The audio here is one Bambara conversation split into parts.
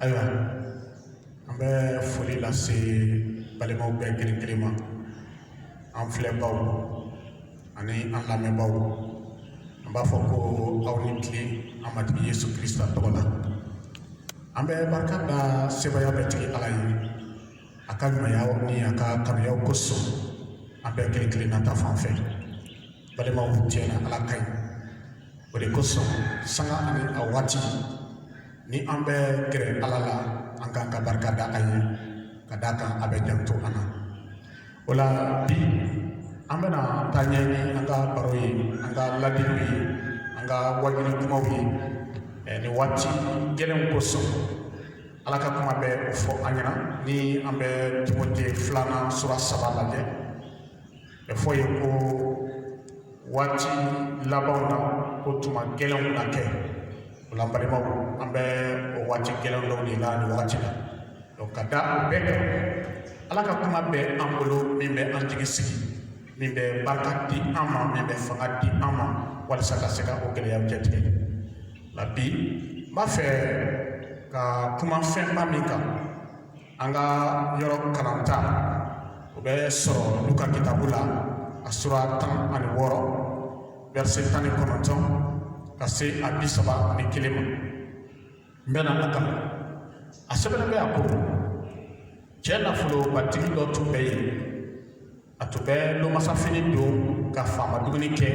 ayiwa an bɛ foli lase balimaw bɛɛ kelen kelen ma an filɛbaaw ani an lamɛnbaaw an b'a fɔ ko aw ni tile an matigi yesu kirista tɔgɔ la an bɛ barika da sebaaya bɛɛ tigi ala ye a ka ɲumanya ni a ka kanuyaw kosɔn an bɛɛ kelen kelen na ta fan fɛ balimaw tiɲɛ na ala ka ɲi o de kosɔn sanga ani a waati ni an bɛ gɛrɛ ala la an k'an ka barika da a ye ka d'a kan a bɛ janto an na o la bi an bɛna taa ɲɛ ni an ka baro ye an ka ladiliw ye an ka wajuli kumaw ye nin waati gɛlɛnw kosɔn ala ka kuma bɛ o fɔ an ɲɛna ni an bɛ timote filanan sura saba lajɛ b'a fɔ i ye ko waati labanw na ko tuma gɛlɛnw na kɛ o la balimaw an bɛ o waati gɛlɛn dɔw de la nin wagati la donc ka da o bɛɛ kan ala ka kuma bɛ an bolo min bɛ an jigi sigi min bɛ barika di an ma min bɛ fanga di an ma walasa ka se ka o gɛlɛyaw cɛtigɛ o la bi n b'a fɛ ka kuma fɛnba min kan an ka yɔrɔ kalanta o bɛ sɔrɔ luka kitabu la a sura tan ani wɔɔrɔ wɛrɛse tan ni kɔnɔntɔn ka se a bi saba ni kelen ma n bɛna a kalan a sɛbɛnnen bɛ a ko cɛ nafolobatigi dɔ tun bɛ yen a tun bɛ lomasafini don ka faama dumuni kɛ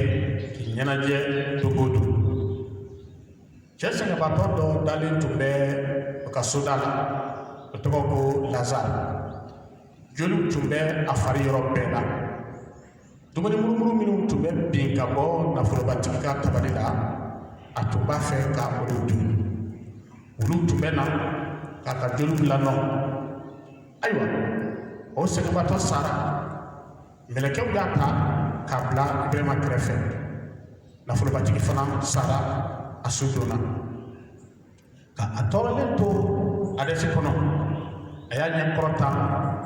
k'i ɲɛnajɛ don o don cɛ sɛgɛnbaatɔ dɔ dalen tun bɛ o ka soda la o tɔgɔ ko lazari joliw tun bɛ a fari yɔrɔ bɛɛ la dumuni murumuru minnu tun bɛ bin ka bɔ nafolobatigi ka tabali la a tun b'a fɛ ka olu dun wuluw tun bɛ na k'a ka joliw lanɔn ayiwa o sɛgɛnbatɔ sara mɛlɛkɛw y'a ta k'a bila ibrahima kɛrɛfɛ nafolobatigi fana sara a su donna ka a tɔɔrɔlen to adɛsi kɔnɔ a y'a ɲɛ kɔrɔta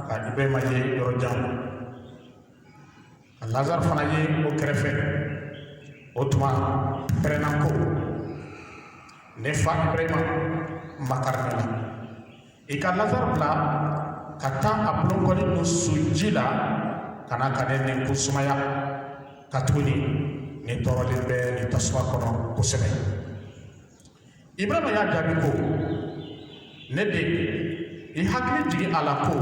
ka ibrahima ye yɔrɔ jan ka lazari fana ye o kɛrɛfɛ o tuma pɛrɛnna ko ne fa ibrahima makari ne la i ka lazari bila ka taa a bolonkɔni nun su ji la ka na ka ne nɛnkun sumaya katuguni ne tɔɔrɔlen bɛ nin tasuma kɔnɔ kosɛbɛ ibrahima y'a jaabi ko ne den i hakili jigin a la ko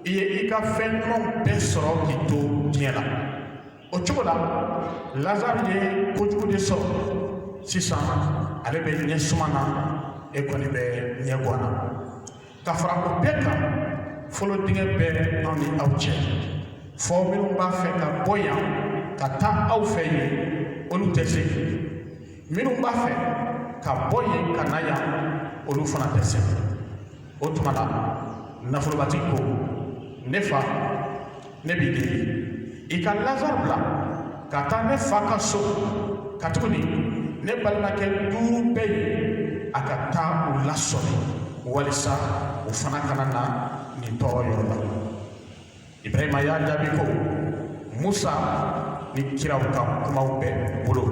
i ye i ka fɛn ɲumanw bɛɛ sɔrɔ k'i to diɲɛ la o cogo la lazari ye kojugu de sɔrɔ sisan ale bɛ ɲɛsuma na e kɔni bɛ ɲɛgwan na ka fara o bɛɛ kan folon dingɛ bɛ anw ni aw cɛ fo minnu b'a fɛ ka bɔ yan ka taa aw fɛ yen olu tɛ se minnu b'a fɛ ka bɔ yen ka na yan olu fana tɛ se o tuma la nafolobatigi ko ne fa ne b'i deli i ka lazari bila ka taa ne fa ka so katuguni ne balimakɛ duuru bɛ yen a ka taa u lasɔmi walisa u fana kana na nin tɔɔrɔ yɔrɔ la Ibrahima y'a jaabi ko Musa ni kiraw ka kumaw b'u bolo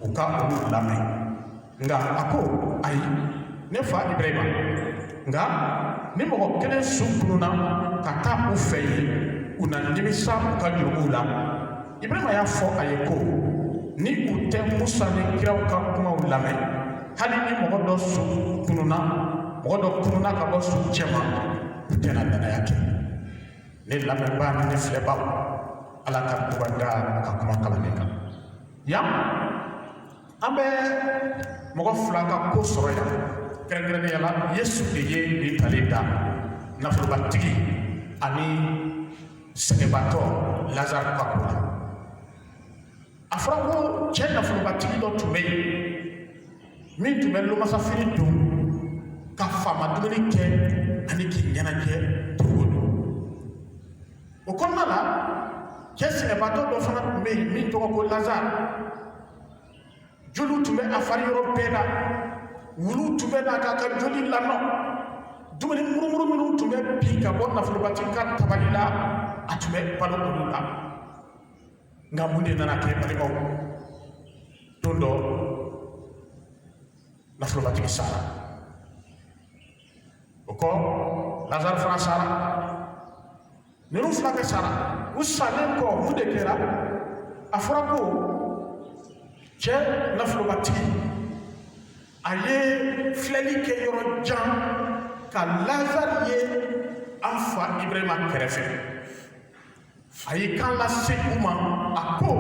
u ka olu lamɛn nka a ko ayi ne fa Ibrahima nka ni mɔgɔ kelen su kununna ka taa u fɛ yen u na nimisa u ka jurumuw la Ibrahima y'a fɔ a ye ko ni u tɛ Musa ni kiraw ka kumaw lamɛn hali ni mɔgɔ dɔ su kununna mɔgɔ dɔ kununna ka bɔ suw cɛma u tɛna danaya kɛ ne lamɛnbaaw ni ne filɛbaaw ala ka duba da a ka kuma kalannen kan yan an bɛ mɔgɔ fila ka ko sɔrɔ yan kɛrɛnkɛrɛnnenya la yesu de ye nin ntalen da nafolobatigi ani sɛgɛnbatɔ lazari ka ko la a fɔra ko cɛ nafolobatigi dɔ tun bɛ yen min tun bɛ lomasafini don ka faama dumuni kɛ ani k'i ɲɛnajɛ don o don o kɔnɔna la cɛ sɛgɛnbatɔ dɔ fana tun bɛ yen min tɔgɔ ko lazari joliw tun bɛ a fari yɔrɔ bɛɛ la wuluw tun bɛ na k'a ka joli lanɔn dumuni murumuru minnu tun bɛ bin ka bɔ nafolobatigi ka tabali la a tun bɛ balo olu la nga mun de nana kɛ balimaw don dɔ nafolobatigi sara o kɔ lazari fana sara ninnu fila bɛɛ sara u salen kɔ mun de kɛra a fɔra ko cɛ nafolobatigi a ye filɛli kɛ yɔrɔ jan ka lazari ye an fa ibrahima kɛrɛfɛ A ye kan lase u ma a ko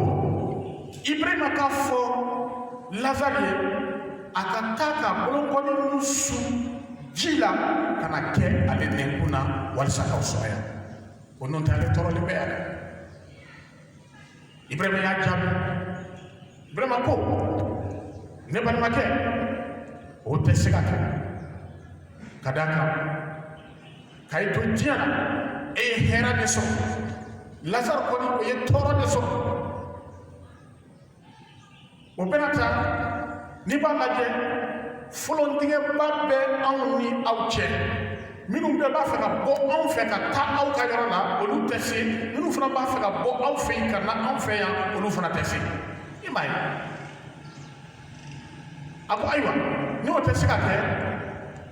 ibrahima k'a fɔ lazari ye a ka taa k'a bolonkɔni nun su ji la ka na kɛ ale nɛnkun na walisa k'a sumaya ko n'o tɛ ale tɔɔrɔlen bɛ yan dɛ ibrahima y'a jaabi ibrahima ko ne balimakɛ o tɛ se ka kɛ ka d'a kan k'e to diɲɛ na e ye hɛra de sɔrɔ lazari kɔni o ye tɔɔrɔ de sɔrɔ o bɛɛ n'a ta n'i b'a lajɛ folontigɛba bɛ anw ni aw cɛ minnu bɛɛ b'a fɛ ka bɔ anw fɛ ka taa aw ka yɔrɔ la olu tɛ se minnu fana b'a fɛ ka bɔ aw fɛ yen ka na anw fɛ yan olu fana tɛ se i m'a ye a ko ayiwa n'o tɛ se ka kɛ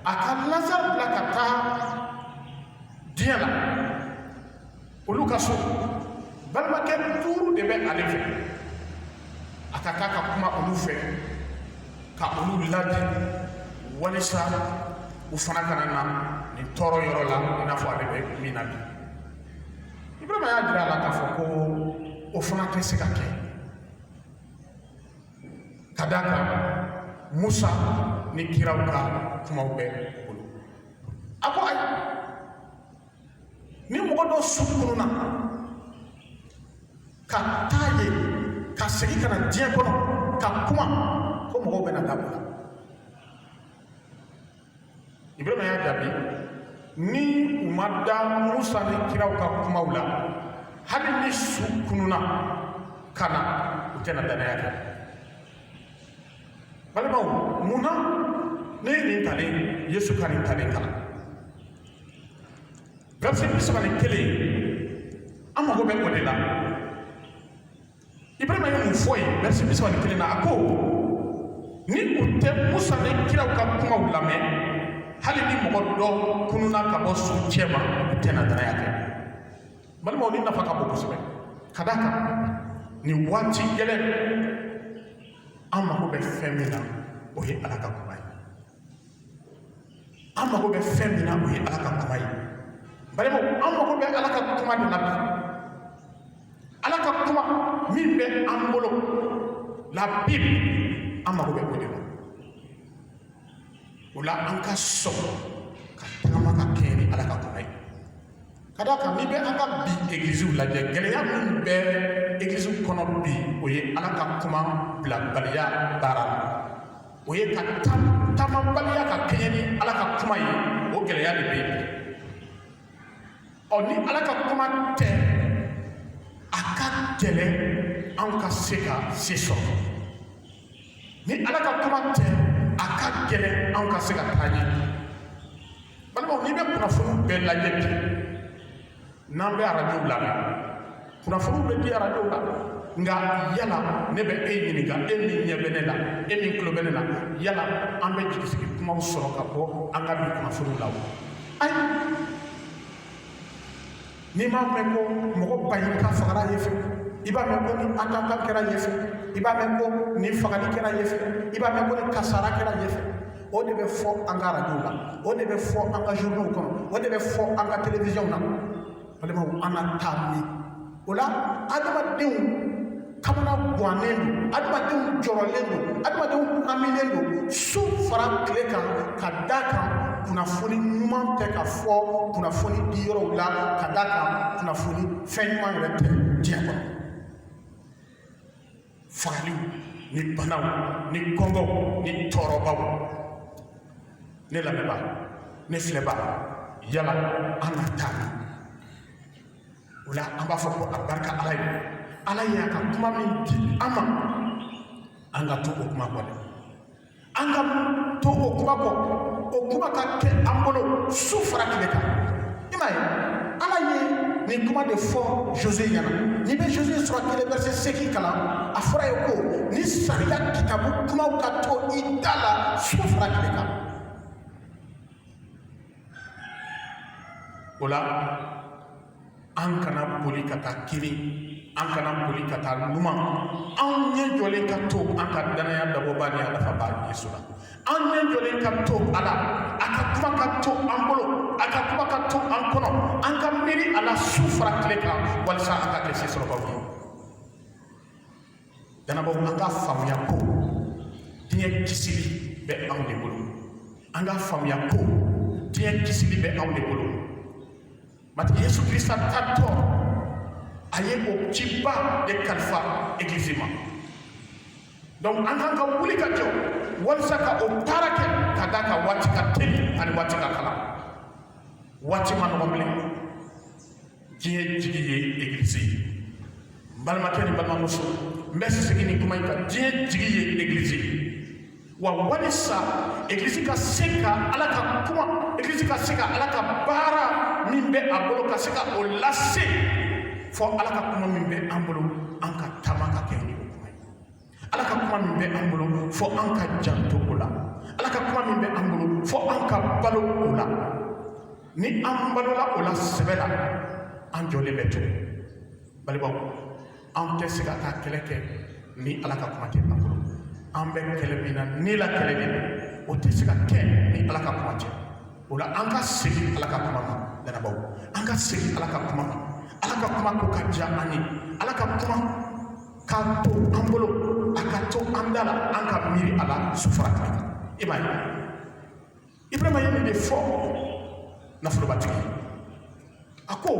a ka lazari bila ka taa diɲɛ la olu ka so balimakɛ duuru de bɛ ale fɛ a ka taa ka kuma olu fɛ ka olu ladi walisa u fana kana na nin tɔɔrɔ yɔrɔ la i n'a fɔ ale bɛ min na bi ibrahima y'a jira a la k'a fɔ ko o fana tɛ se ka kɛ ka d'a kan musa ni kiraw ka kumaw b'u bolo a ko ayi ni mɔgɔ dɔ su kununa ka taa yen ka segin ka na diɲɛ kɔnɔ ka kuma ko mɔgɔw bɛn'a dabila Ibrahima y'a jaabi ni u ma da musa ni kiraw ka kumaw la hali ni su kununa ka na u tɛna danaya kɛ balimaw mun na ne ye nin talen yesu ka nin talen kalan verset bi saba ni kelen an mago bɛ o de la ibrahima ye mun fɔ yen verset bi saba ni kelen na a ko ni u tɛ musa ni kiraw ka kumaw lamɛn hali ni mɔgɔ dɔ kununa ka bɔ suw cɛma u tɛna danaya kɛ balimaw nin nafa ka bon kosɛbɛ ka d'a kan nin waati gɛlɛn an mago bɛ fɛn min na o ye ala ka kuma ye an mago bɛ fɛn min na o ye ala ka kuma ye balimaw an mago bɛ ala ka kuma de la bi ala ka kuma min bɛ an bolo la bible an mago bɛ o de la o la an ka sɔn ka tagama ka kɛɲɛ ni ala ka kuma ye ka d'a kan n'i bɛ an ka bi egiliziw lajɛ gɛlɛya min bɛ egiliziw kɔnɔ bi o ye ala ka kuma bilabaliya baara la o ye ka taamabaliya ka kɛɲɛ ni ala ka kuma ye o gɛlɛya de bɛ yen ɔ ni ala ka kuma tɛ a ka gɛlɛn an ka se ka se sɔrɔ ni ala ka kuma tɛ a ka gɛlɛn an ka se ka taa ɲɛ balimaw n'i bɛ kunnafoniw bɛɛ lajɛ bi n'an bɛ arajow la kunnafoniw bɛ di arajow la nka yala ne bɛ e ɲininka e min ɲɛ bɛ ne la e min tulo bɛ ne la yala an bɛ jigisigi kumaw sɔrɔ ka bɔ an ka bi kunnafoniw la wa ayi n'i m'a mɛn ko mɔgɔ baɲini ka fagara yen fɛ i b'a mɛn ko nin attentat kɛra yen fɛ i b'a mɛn ko nin fagali kɛra yen fɛ i b'a mɛn ko nin kasara kɛra yen fɛ o de bɛ fɔ an ka arajow la o de bɛ fɔ an ka journaux kɔnɔ o de bɛ fɔ an ka télévision na balimaw an na taa min o la adamadenw kamana gwannen don adamadenw jɔrɔlen don adamadenw hamilen don su fara tile kan ka d'a kan kunnafoni ɲuman tɛ ka fɔ kunnafoni di yɔrɔw la ka d'a kan kunnafoni fɛn ɲuman yɛrɛ tɛ diɲɛ kɔnɔ fagaliw ni banaw ni kɔngɔw ni tɔɔrɔbaw ne lamɛnba ne filɛba yala an na taa min o la an b'a fɔ ko a barika ala ye ala y'a ka kuma min di an ma an ka to o kuma kɔ dɛ an ka to o kuma kɔ o kuma ka kɛ an bolo su fara tile kan i m'a ye ala ye nin kuma de fɔ josué ɲɛna n'i bɛ josué sɔrɔ kelen verset segin kalan a fɔra yen ko nin sariya kitabu kumaw ka to i da la su fara tile kan o la an kana boli ka taa kinin an kana boli ka taa numan an ɲɛ jɔlen ka to an ka dannaya dabɔba ni a dafaba yesu la an ɲɛ jɔlen ka to a la a ka kuma ka to an bolo a ka kuma ka to an kɔnɔ an ka miiri a la su fara tile kan walisa an ka kɛ sesɔrɔbaw ye dannabaw an ka faamuya ko diɲɛ kisili bɛ anw de bolo an ka faamuya ko diɲɛ kisili bɛ anw de bolo matigi yesu kirista taatɔ a ye o ciba de kalifa egilizi ma donc an kan ka wuli ka jɔ walisa ka o baara kɛ ka d'a kan waati ka teli ani waati ka kalan waati ma nɔgɔ bilen diɲɛ jigi ye egilisi ye n balimakɛ ni balimamuso n bɛ segin nin kuma in kan diɲɛ jigi ye egilisi ye wa walisa egilisi ka se ka ala ka kuma egilisi ka se ka ala ka baara min bɛ a bolo ka se ka o lase fo ala ka kuma min bɛ an bolo an ka taama ka kɛ ala ka kuma min bɛ an bolo fɔ an ka janto o la ala ka kuma min bɛ an bolo fɔ an ka balo o la ni an balola o la sɛbɛ la an jɔlen bɛ to balimaw an tɛ se ka taa kɛlɛ kɛ ni ala ka kuma tɛ an bolo an bɛ kɛlɛ min na ni la kɛlɛ de don o tɛ se ka kɛ ni ala ka kuma tɛ o la an ka segin ala ka kuma ma danabaw an ka segin ala ka kuma ma ala ka kuma ko ka diya an ye ala ka kuma ka to an bolo a ka to an da la an ka miiri a la su fara tile kan i m'a ye ibrahima ye nin de fɔ nafolobatigi a ko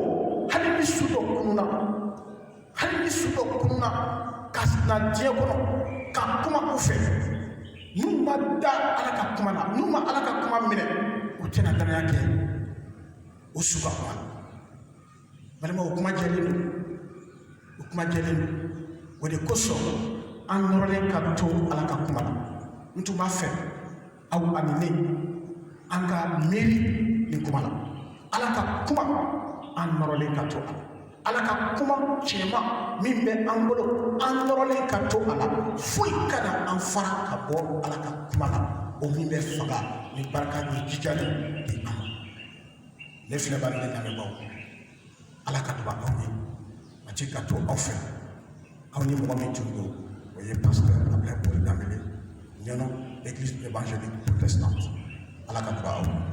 hali ni su dɔ kununna hali ni su dɔ kununna ka na diɲɛ kɔnɔ ka kuma u fɛ n'u ma da ala ka kuma na n'u ma ala ka kuma minɛ u tɛna danaya kɛ o su ka kuma balima o kuma jɛlen don o kuma jɛlen don o de kosɔn an nɔrɔlen ka to ala ka kuma na n tun b'a fɛ aw ani ne an ka miiri nin kuma na ala ka kuma an nɔrɔlen ka to a la ala ka kuma tiɲɛma min bɛ an bolo an nɔrɔlen ka to a la foyi kana an fara ka bɔ ala ka kuma na o min bɛ faga ni barika ni jijali di an ma ne filɛbaaw ne lamɛnbaaw ala ka duba aw ye matigi ka to aw fɛ aw ni mɔgɔ min tun don o ye pasteur abdulayi paul danbele ɲɛnɔ église évangélique protestante ala ka duba aw ye